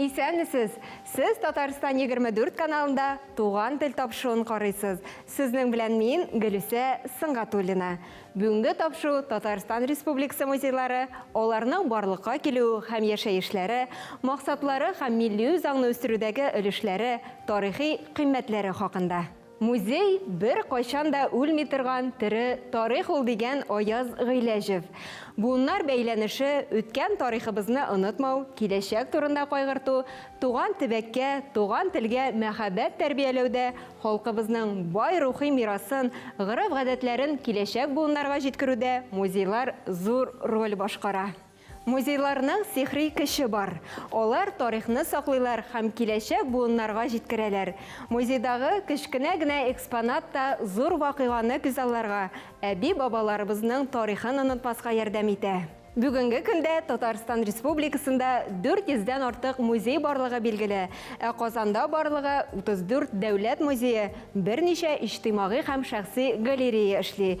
Исәнмесез! Сез Татарстан 24 каналында Туган тел тапшыуын карыйсыз. Сезнең белән мин, Гөлүсә Сөнгатуллина. Бүгенге тапшыу Татарстан Республикасы музейлары, аларның барлыкка килү һәм яшәешләре, максатлары һәм милли үзаңны үстерүдәге өлешләре, тарихи кыйммәтләре хакында. Музей, беркайчан да үлми торган тере тарих ул, дигән Аяз Гыйләҗев. Буыннар бәйләнеше, үткән тарихыбызны онытмау, киләчәк турында кайгырту, туган төбәккә, туган телгә мәхәббәт тәрбияләүдә халкыбызның бай рухи мирасын, гореф-гадәтләрен киләчәк буыннарга җиткерүдә музейлар зур роль башкара. Музейларның сихри көче бар. Алар тарихны саклыйлар һәм киләчәк буыннарга җиткерәләр. Музейдагы кечкенә генә экспонат та зур вакыйганы күзалларга, әби-бабаларыбызның тарихын онытмаска ярдәм итә. Бүгенге көндә Татарстан Республикасында 400 дән артык музей барлыгы билгеле, ә Казанда барлыгы 34 дәүләт музее, берничә иҗтимагый һәм шәхси галерея эшли.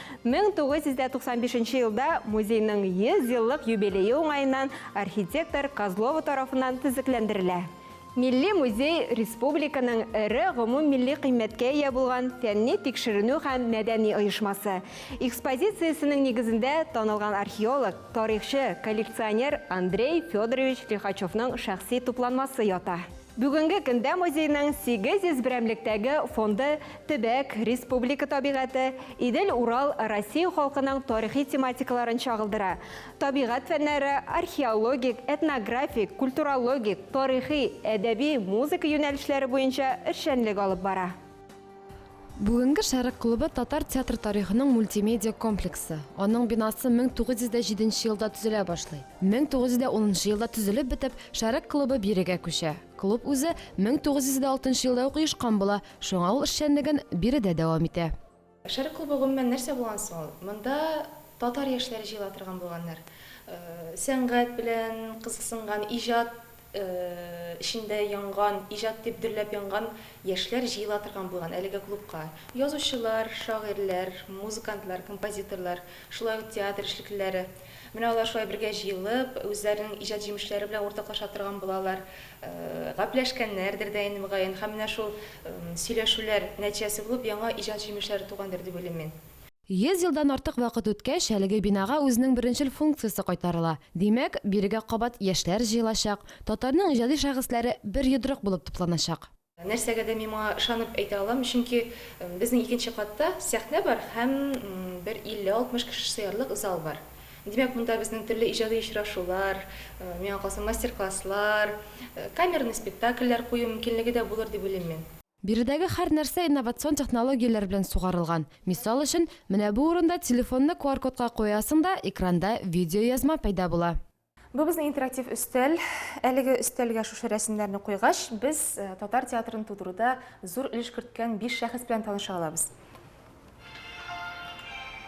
1995 нче елда музейның 100 еллык юбилее уңаеннан архитектор Козлова тарафыннан төзекләндерелә. Милли музей республиканың эре гомуммилли кыйммәткә ия булган фәнни тикшеренү һәм мәдәни оешмасы. Экспозициясенең нигезендә танылган археолог, тарихчы, коллекционер Андрей Федорович Лихачевның шәхси тупланмасы ята. Бүгенге көндә музейның 800 берәмлектәге фонды төбәк, республика табигате, Идел-Урал, Россия халкының тарихи тематикаларын чагылдыра. Табигать фәннәре, археологик, этнографик, культурологик, тарихи, әдәби, музыка юнәлешләре буенча эшчәнлек алып бара. Бүгенге Шәрык клубы татар театр тарихының мультимедиа комплексы. Аның бинасы 1907 нче елда төзелә башлый. 1910 нчы елда төзелеп бетеп, Шәрык клубы бирегә күчә. Клуб үзе 1906 нчы елда ук оешкан була, шуңа ул эшчәнлеген биредә дәвам итә. Шәрык клубы гомумән нәрсә булган соң ул? Монда татар яшьләре җыела торган булганнар. Сәнгать белән кызыксынган, иҗат эчендә янган, иҗат дип дөрләп янган яшьләр җыела торган булган әлеге клубка. Язучылар, шагыйрьләр, музыкантлар, композиторлар, шулай ук театр эшлеклеләре. Менә алар шулай бергә җыелып, үзләренең иҗат җимешләре белән уртаклаша торган булалар. Гапләшкәннәрдер дә инде, мөгаен, һәм менә шул сөйләшүләр нәтиҗәсе булып яңа иҗат җимешләре тугандыр дип уйлыйм мин. Йөз елдан артык вакыт үткәч, әлеге бинага үзенең беренчел функциясе кайтарыла. Димәк, бирегә кабат яшьләр җыелачак, татарның иҗади шәхесләре бер йодрык булып тупланачак. Нәрсәгә дә мин моңа ышанып әйтә алам, чөнки безнең икенче катта сәхнә бар һәм бер 50-60 кеше сыярлык зал бар. Димәк, монда безнең төрле иҗади очрашулар, миңа калса, мастер-класслар, камерный спектакльләр кую мөмкинлеге дә булыр дип уйлыйм мин. Биредәге һәр нәрсә инновацион технологияләр белән сугарылган. Мисал өчен, менә бу урында телефонны QR-кодка куясың да, экранда видеоязма пәйда була. Бу безнең интерактив өстәл. Әлеге өстәлгә шушы рәсемнәрне куйгач, без татар театрын тудыруда зур өлеш керткән биш шәхес белән таныша алабыз.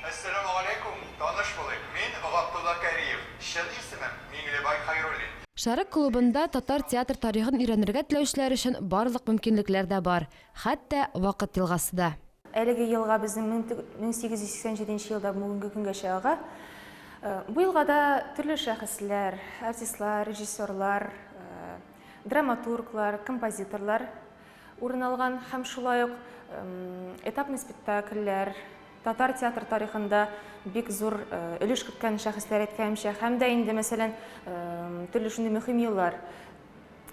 Әссәламегаләйкүм, таныш булыйк, мин Габдулла Кәриев, чын исемем, Миңлебай Хәйруллин. Шәрык клубында татар театр тарихын өйрәнергә теләүчеләр өчен барлык мөмкинлекләр дә бар, хәтта Вакыт елгасы да. Әлеге елга безнең 1887 елда бүгенге көнгәчә ага. Бу елгада төрле шәхесләр, артистлар, режиссерлар, драматурглар, композиторлар Урын алган һәм шулай ук этапный спектакльләр, татар театр тарихында бик зур өлеш керткән шәхесләр әйткәнемчә, һәм дә инде, мәсәлән, төрле шундый мөһим еллар.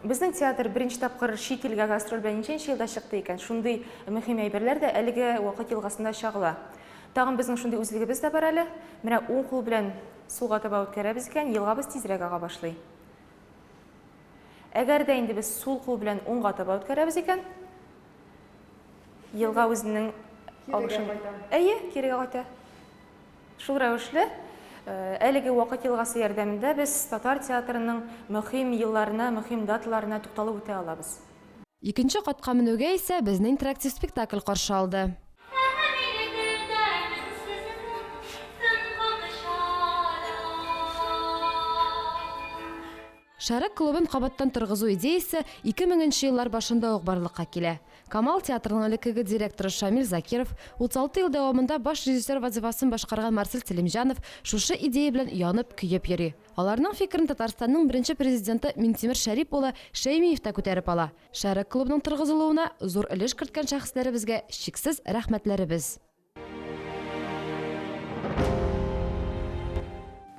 Безнең театр беренче тапкыр чит илгә гастроль белән ничәнче елда чыкты икән? Шундый мөһим әйберләр дә әлеге вакыт елгасында чагыла. Тагын безнең шундый үзлегебез дә бар әле. Менә уң кул белән сулга таба үткәрәбез икән, елгабыз тизрәк ага башлый. Әгәр дә инде без сул кул белән уңга таба үткәрәбез икән, елга үзенең агышын... Әйе, кирегә кайта. Шул рәвешле, э, әлеге вакыт елгасы ярдәмендә без татар театрының мөһим елларына, мөһим даталарына тукталып үтә алабыз. Икенче катка менүгә исә безне интерактив спектакль каршы алды. Шәрык клубын кабаттан торгызу идеясе ике меңенче еллар башында ук барлыкка килә. Камал театрының элеккеге директоры Шамил Закиров, 36 ел дәвамында баш режиссер вазыйфасын башкарган Марсель Сәлимҗанов шушы идея белән янып, көеп йөри. Аларның фикерен Татарстанның беренче президенты Минтимер Шәрип улы Шәймиев тә күтәреп ала. Шәрык клубының торгызылуына зур өлеш керткән шәхесләребезгә чиксез рәхмәтләребез!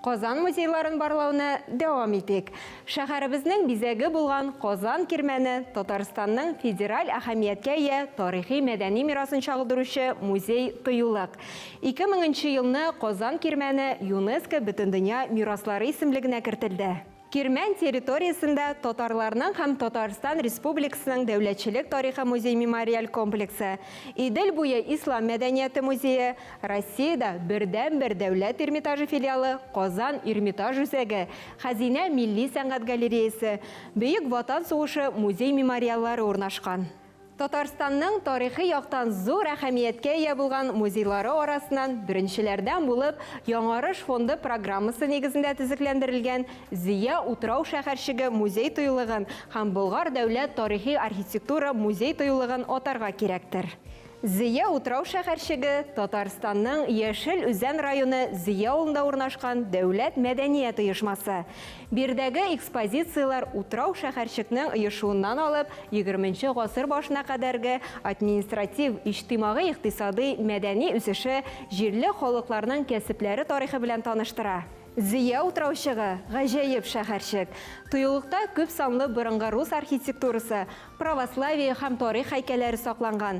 Казан музейларын барлауны дәвам итик. Шәһәребезнең бизәге булган Казан кирмәне Татарстанның федераль әһәмияткә ия тарихи мәдәни мирасын чагылдыручы музей тыюлык. 2000 елны Казан кирмәне ЮНЕСКО Бөтендөнья мираслары исемлегенә кертелде. Кирмән территориясендә татарларның һәм Татарстан Республикасының Дәүләтчелек тарихы музей-мемориаль комплексы, Идел буе ислам мәдәнияте музее, Россиядә бердәнбер Дәүләт Эрмитажы филиалы, Казан Эрмитаж үзәге, Хәзинә милли сәнгать галереясе, Бөек Ватан сугышы музей-мемориаллары урнашкан. Татарстанның тарихи яктан зур әһәмияткә ия булган музейлары арасыннан беренчеләрдән булып Яңарыш фонды программасы нигезендә төзекләндерелгән Зөя утрау шәһәрчеге музей-тыюлыгын һәм Болгар дәүләт тарихи-архитектура музей-тыюлыгын атарга кирәктер. Зөя утрау шәһәрчеге, Татарстанның Яшел Үзән районы Зөя авылында урнашкан дәүләт мәдәният оешмасы. Биредәге экспозицияләр утрау шәһәрчекнең оешуыннан алып, егерменче гасыр башына кадәрге административ, иҗтимагый-икътисадый, мәдәни үсеше, җирле халыкларның кәсепләре тарихы белән таныштыра. Зөя утраучыгы, гаҗәеп шәһәрчек. Тыюлыкта күп санлы борынгы рус архитектурасы, православие һәм тарих һәйкәлләре сакланган.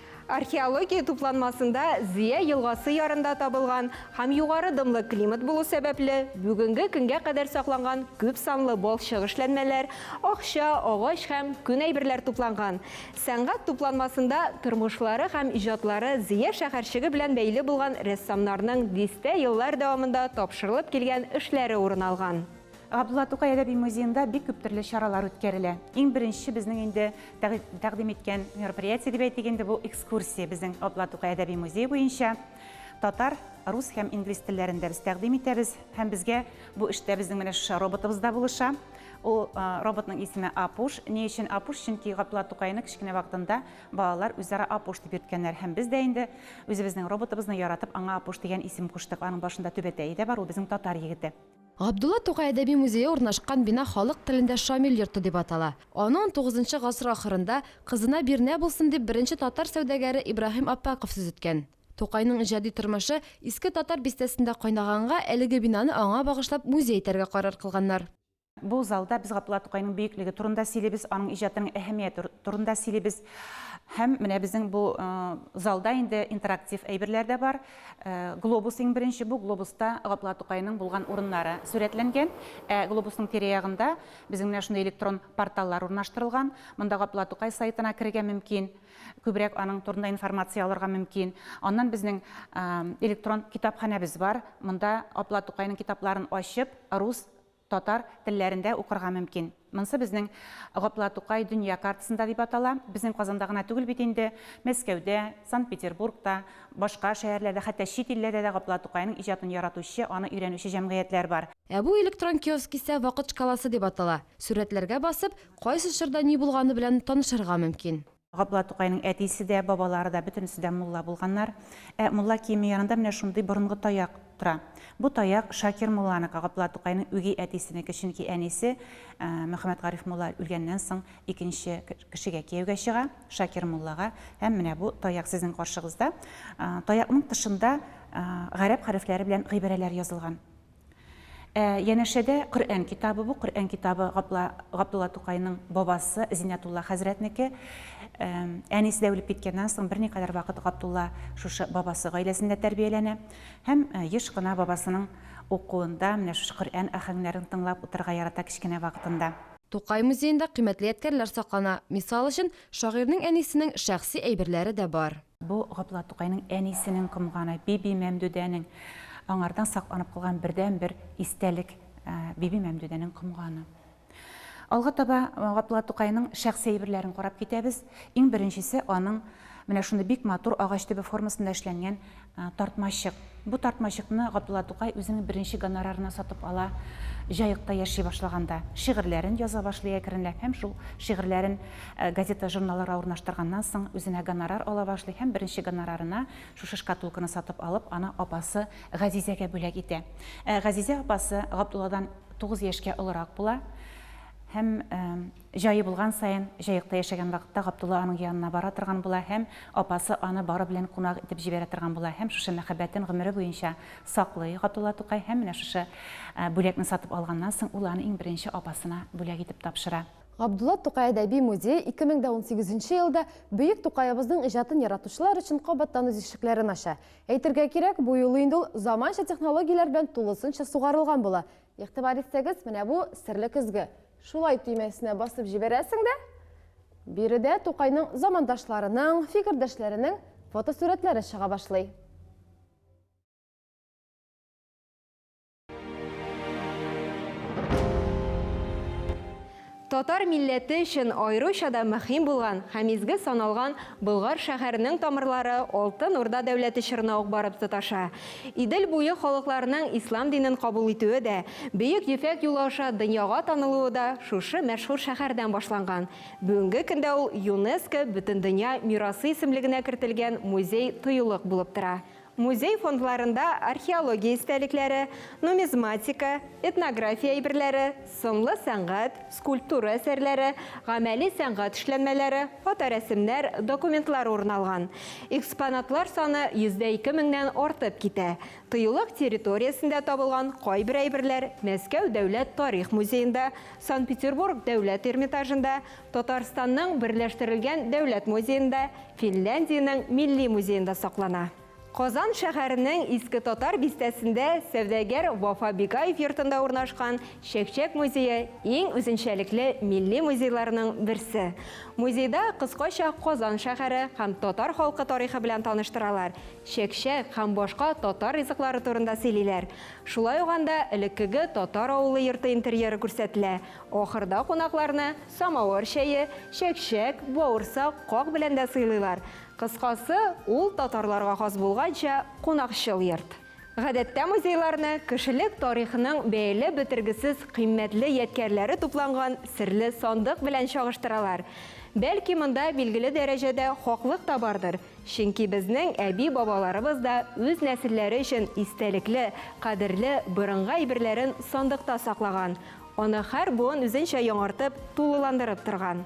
Археология тупланмасында Зөя елгасы ярында табылган һәм югары дымлы климат булу сәбәпле, бүгенге көнгә кадәр сакланган күп санлы балчык эшләнмәләр, акча, агач һәм күн әйберләр тупланган. Сәнгать тупланмасында тормышлары һәм иҗатлары Зөя шәһәрчеге белән бәйле булган рәссамнарның дистә еллар дәвамында тапшырылып килгән эшләре урын алган. Габдулла Тукай әдәби музеенда бик күп төрле чаралар үткәрелә. Иң беренче безнең инде тәкъдим иткән мероприятие дип әйтик инде, бу экскурсия безнең Габдулла Тукай әдәби музее буенча. Татар, рус һәм инглиз телләрендә без тәкъдим итәбез. Һәм безгә бу эштә безнең менә шушы роботыбыз да булыша. Ул роботның исеме Апуш. Ни өчен Апуш? Чөнки Габдулла Тукайны кечкенә вакытында балалар үзара Апуш дип йөрткәннәр. Һәм без дә инде үзебезнең роботыбызны яратып, аңа Апуш дигән исем куштык. Аның башында түбәтәе дә бар, ул безнең татар егете. Габдулла Тукай әдәби музее урнашкан бина халык телендә Шамил йорты дип атала. Аны унтугызынчы гасыр ахырында, кызына бирнә булсын дип, беренче татар сәүдәгәре Ибраһим Аппаков сөзеткән. Тукайның иҗади тормышы Иске Татар бистәсендә кайнаганга, әлеге бинаны аңа багышлап музей итәргә карар кылганнар. Бу залда без Габдулла Тукайның бөеклеге турында сөйлибез, аның иҗатының әһәмияте турында сөйлибез. Һәм менә безнең бу залда инде интерактив әйберләр дә бар. Глобус иң беренче бу глобуста Габдулла Тукайның булган урыннары сурәтләнгән. Ә глобусның тирә-ягында безнең менә шундый электрон порталлар урнаштырылган. Монда Габдулла Тукай сайтына керергә мөмкин, күбрәк аның турында информация алырга мөмкин. Аннан безнең электрон китапханәбез бар. Монда Габдулла Тукайның китапларын ачып, рус татар телләрендә укырга мөмкин. Монсы безнең Гапла Тукай дөнья картасында дип атала. Безнең Казанда гына түгел бит инде, Мәскәүдә, Санкт-Петербургта, башка шәһәрләрдә, хәтта чит илләрдә дә Гапла Тукайның иҗатын яратучы, аны өйрәнүче җәмгыятьләр бар. Ә бу электрон киоск исә Вакыт шкаласы дип атала. Сурәтләргә басып, кайсы чорда ни булганы белән танышырга мөмкин. Габдулла Тукайның әтисе дә, бабалары да, бөтенесе дә мулла булганнар. Ә мулла киеме янында менә шундый борынгы таяк тора. Бу таяк Шакир мулланыкы, Габдулла Тукайның үги әтисенеке, чөнки әнисе Мөхәммәтгариф мулла үлгәннән соң икенче кешегә кияүгә чыга, Шакир муллага. Һәм менә бу таяк сезнең каршыгызда. Таякның тышында гарәп хәрефләре белән гыйбарәләр язылган. Ә янәшәдә Коръән китабы бу, Коръән китабы Гапла, Габдулла Тукайның бабасы Зинятулла хәзрәтнеке. Ә, әнисе дә үлеп киткәннән соң берникадәр вакыт Габдулла шушы бабасы гаиләсендә тәрбияләнә һәм ә, еш кына бабасының укуында менә шушы Коръән аһәңнәрен тыңлап утырырга ярата кечкенә вакытында. Тукай музеенда кыйммәтле ядкәрләр саклана, мисал өчен, шагыйрьнең әнисенең шәхси әйберләре дә бар. Бу Габдулла Тукайның әнисенең комганы, Биби Мәмдүдәнең аңардан сакланып калган бердәнбер истәлек, Биби Мәмдүдәнең комганы. Алга таба Габдулла Тукайның шәхси әйберләрен карап китәбез. Иң беренчесе аның менә шундый бик матур агач төбе формасында эшләнгән тартмачык. Бу тартмачыкны Габдулла Тукай үзенең беренче гонорарына сатып ала, Җаекта яши башлаганда. Шигырьләрен яза башлый әкренләп һәм шул шигырьләрен газета-журналларга урнаштырганнан соң, үзенә гонорар ала башлый һәм беренче гонорарына шушы шкатулканы сатып алып, аны апасы Газизәгә бүләк итә. Ә Газизә апасы Габдулладан тугыз яшькә олырак була һәм. Җае булган саен, Җаекта яшәгән вакытта Габдулла аның янына бара торган була һәм апасы аны бары белән кунак итеп җибәрә торган була һәм шушы мәхәббәтен гомере буенча саклый Габдулла Тукай һәм менә шушы бүләкне сатып алганнан соң ул аны иң беренче апасына бүләк итеп тапшыра. Габдулла Тукай әдәби музее 2018 нче елда бөек Тукаебызның иҗатын яратучылар өчен кабаттан үз ишекләрен ача. Әйтергә кирәк, бу юлы инде ул заманча технологияләр белән тулысынча сугарылган була, Игътибар итсәгез, менә бу серле көзге. Шулай төймәсенә басып җибәрәсең дә, биредә Тукайның замандашларының, фикердәшләренең фотосурәтләре чыга башлый. Татар милләте өчен аеруча да мөһим булган һәм изге саналган Болгар шәһәренең тамырлары Алтын Урда дәүләте чорына ук барып тоташа. Идел буе халыкларының ислам динен кабул итүе дә, Бөек Ефәк юлы аша дөньяга танылуы да шушы мәшһүр шәһәрдән башланган. Бүгенге көндә ул ЮНЕСКО Бөтендөнья мирасы исемлегенә кертелгән музей-тыюлык булып тора. Музей фондларында археология истәлекләре, нумизматика, этнография әйберләре, сынлы сәнгать, скульптура әсәрләре, гамәли сәнгать эшләнмәләре, фоторәсемнәр, документлар урын алган. Экспонатлар саны йөздә ике меңнән артып китә. Тыюлык территориясендә табылган кайбер әйберләр Мәскәү дәүләт тарих музеенда, Санкт-Петербург дәүләт Эрмитажында, Татарстанның Берләштерелгән дәүләт музеенда, Финляндиянең Милли музеенда саклана. Казан шәһәренең Иске Татар бистәсендә сәүдәгәр Вафа Бикаев йортында урнашкан Чәкчәк музее иң үзенчәлекле милли музейларның берсе. Музейда кыскача Казан шәһәре һәм татар халкы тарихы белән таныштыралар, чәкчәк һәм башка татар ризыклары турында сөйлиләр. Шулай ук анда элеккеге татар авылы йорты интерьеры күрсәтелә, Ахырда кунакларны самавыр чәе, чәкчәк, бавырсак, как белән дә сыйлыйлар. Кыскасы, ул татарларга хас булганча кунакчыл йорт. Гадәттә музейларны кешелек тарихының бәяләп бетергесез кыйммәтле ядкярләре тупланган серле сандык белән чагыштыралар. Бәлки монда билгеле дәрәҗәдә хаклык та бардыр, чөнки безнең әби-бабаларыбыз да үз нәселләре өчен истәлекле, кадерле борынгы әйберләрен сандыкта саклаган, Аны һәр буын үзенчә яңартып, тулыландырып торган.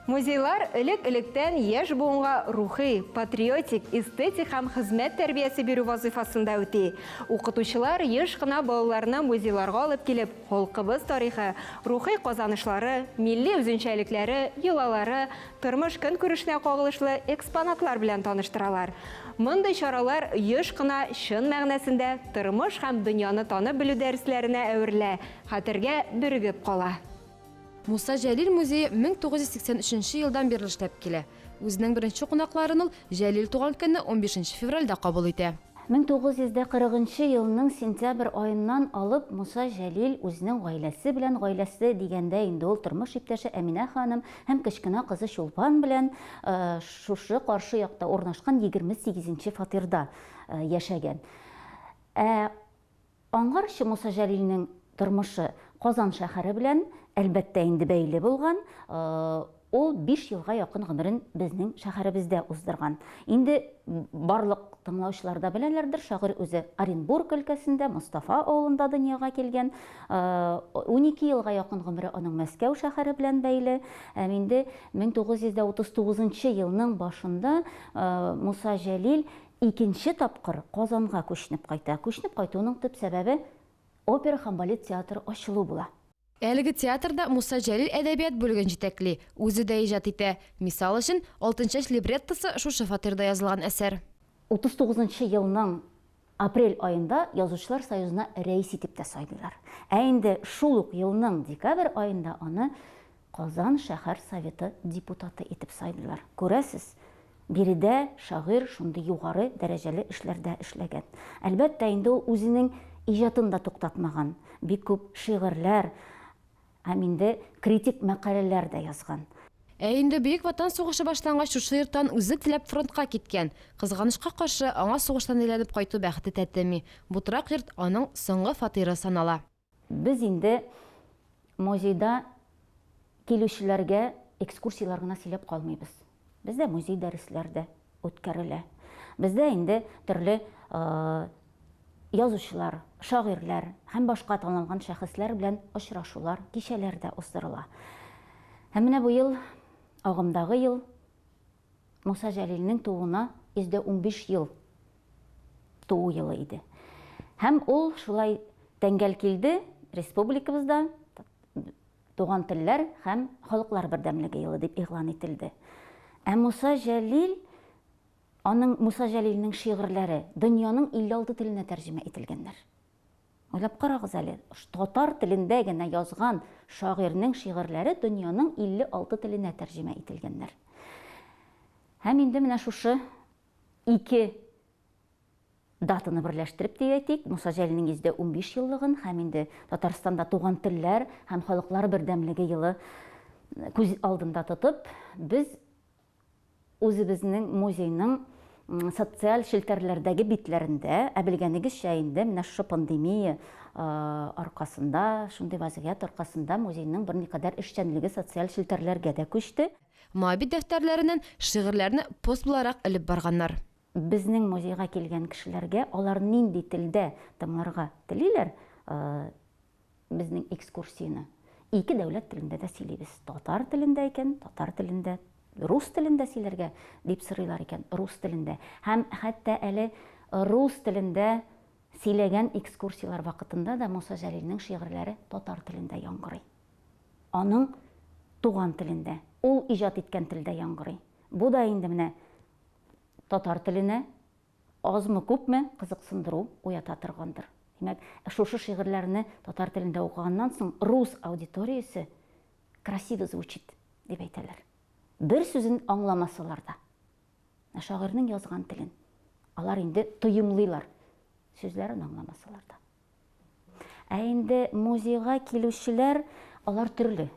Музейлар элек-электән яшь буынга рухи, патриотик, эстетик һәм хезмәт тәрбиясе бирү вазыйфасын да үти. Укытучылар еш кына балаларны музейларга алып килеп, халкыбыз тарихы, рухи казанышлары, милли үзенчәлекләре, йолалары, тормыш-көнкүрешенә кагылышлы экспонатлар белән таныштыралар. Мондый чаралар еш кына чын мәгънәсендә тормыш һәм дөньяны танып белү дәресләренә әверелә, Хәтергә бөрегеп кала. Муса Җәлил музее 1983 елдан бирле эшләп килә. Үзенең беренче кунакларын ул Җәлил туган көнне, унбиш нче февральдә кабул итә. 1940 нчы елның сентябрь аеннан алып Муса Җәлил үзенең гаиләсе белән, гаиләсе дигәндә инде ул тормыш иптәше Әминә ханым һәм кечкенә кызы Чулпан белән шушы каршы якта урнашкан егерме сигезенче фатирда яшәгән. Ә Аңарчы Муса Җәлилнең тормышы Казан шәһәре белән, әлбәттә инде, бәйле булган. Ул биш елга якын гомерен безнең шәһәребездә уздырган. Инде барлык тыңлаучылар да беләләрдер, шагыйрь үзе Оренбург өлкәсендә, Мостафа авылында дөньяга килгән. Унике елга якын гомере аның Мәскәү шәһәре белән бәйле. Һәм инде 1939 елның башында Муса Җәлил Икенче тапкыр Казанга күченеп кайта. Күченеп кайтуының төп сәбәбе, опера һәм балет театры ачылу була. Әлеге театрда Муса Җәлил әдәбият бүлеген җитәкли, үзе дә иҗат итә. Мисал өчен, Алтынчәч либреттосы шушы фатирда язылган әсәр. 39 нчы елның апрель аенда Язучылар союзына рәис итеп тә сайлыйлар. Ә инде шул ук елның декабрь аенда аны Казан шәһәр Советы депутаты итеп сайлыйлар. Күрәсез, биредә шагыйрь шундый югары дәрәҗәле эшләрдә эшләгән. Әлбәттә, инде ул үзенең иҗатын да туктатмаган, бик күп шигырьләр һәм инде критик мәкаләләр дә язган. Ә инде Бөек Ватан сугышы башлангач, шушы йорттан үзе теләп фронтка киткән. Кызганычка каршы, аңа сугыштан әйләнеп кайту бәхете тәтеми. Бу торак йорт аның соңгы фатиры санала. Без инде музейда килүчеләргә экскурсияләр генә сөйләп калмыйбыз. Бездә музей дәресләр дә үткәрелә. Бездә инде төрле язучылар, шагыйрьләр һәм башка танылган шәхесләр белән очрашулар, кичәләр дә уздырыла. Һәм менә бу ел, агымдагы ел Муса Җәлилнең тууына 115 ел туу елы иде. Һәм ул шулай тәңгәл килде, республикабызда Туган телләр һәм халыклар бердәмлеге елы дип игълан ителде. Ә Муса Җәлил, аның Муса Җәлилнең шигырьләре дөньяның 56 теленә тәрҗемә ителгәннәр. Уйлап карагыз әле, татар телендә генә язган шагыйрьнең шигырьләре дөньяның 56 теленә тәрҗемә ителгәннәр. Һәм инде менә шушы ике датаны берләштереп дип әйтик, Муса Җәлилнең 115 еллыгын һәм инде Татарстанда туган телләр һәм халыклар бердәмлеге елы күз алдында тотып, без Үзебезнең музейның социаль челтәрләрдәге битләрендә, ә белгәнегезчә инде, менә шушы пандемия аркасында, шундый вазгыять аркасында музейның берникадәр эшчәнлеге социаль челтәрләргә дә күчте. Моабит дәфтәрләреннән шигырьләрне пост буларак элеп барганнар. Безнең музейга килгән кешеләргә алар нинди телдә тыңларга телиләр безнең экскурсияне, ике дәүләт телендә дә сөйлибез. Татар телендә икән, татар телендә, рус телендә сөйләргә дип сорыйлар икән, рус телендә. Һәм хәтта әле рус телендә сөйләгән экскурсияләр вакытында да Муса Җәлилнең шигырьләре татар телендә яңгырый. Аның туган телендә, ул иҗат иткән телдә яңгырый. Бу да инде менә татар теленә азмы-күпме кызыксындыру уята торгандыр. Димәк, шушы шигырьләрне татар телендә укыганнан соң рус аудиториясе красиво звучит дип әйтәләр. Бер сүзен аңламасалар да, ә шагыйрьнең язган телен алар инде тоемлыйлар, сүзләрен аңламасалар да. Ә инде музейга килүчеләр, алар төрле.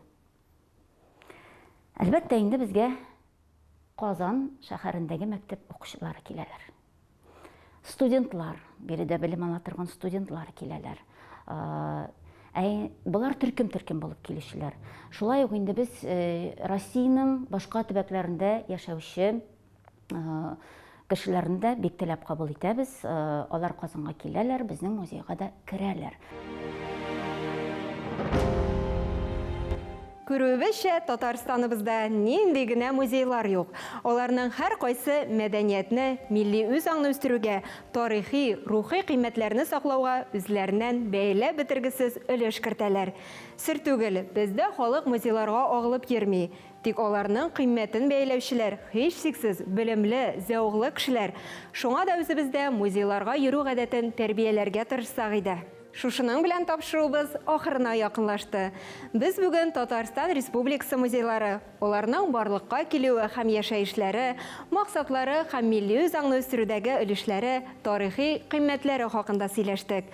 Әлбәттә, инде безгә Казан шәһәрендәге мәктәп укучылары киләләр. Студентлар, биредә белем ала торган студентлар киләләр. Ә болар төркем-төркем булып килүчеләр. Шулай ук инде без э, Россиянең башка төбәкләрендә яшәүче кешеләрне дә бик теләп кабул итәбез. Алар Казанга киләләр, безнең музейга да керәләр. Күрүебезчә, Татарстаныбызда нинди генә музейлар юк. Аларның һәркайсы мәдәниятне, милли үзаңны үстерүгә, тарихи, рухи кыйммәтләрне саклауга үзләреннән бәяләп бетергесез өлеш кертәләр. Сер түгел, бездә халык музейларга агылып йөрми. Тик аларның кыйммәтен бәяләүчеләр, һичшиксез, белемле, зәвыклы кешеләр. Шуңа да үзебездә музейларга йөрү гадәтен тәрбияләргә тырышсак иде. Шушының белән тапшыруыбыз ахырына якынлашты. Без бүген Татарстан Республикасы музейлары, аларның барлыкка килүе һәм яшәешләре, максатлары һәм милли үзаңны үстерүдәге өлешләре, тарихи кыйммәтләре хакында сөйләштек.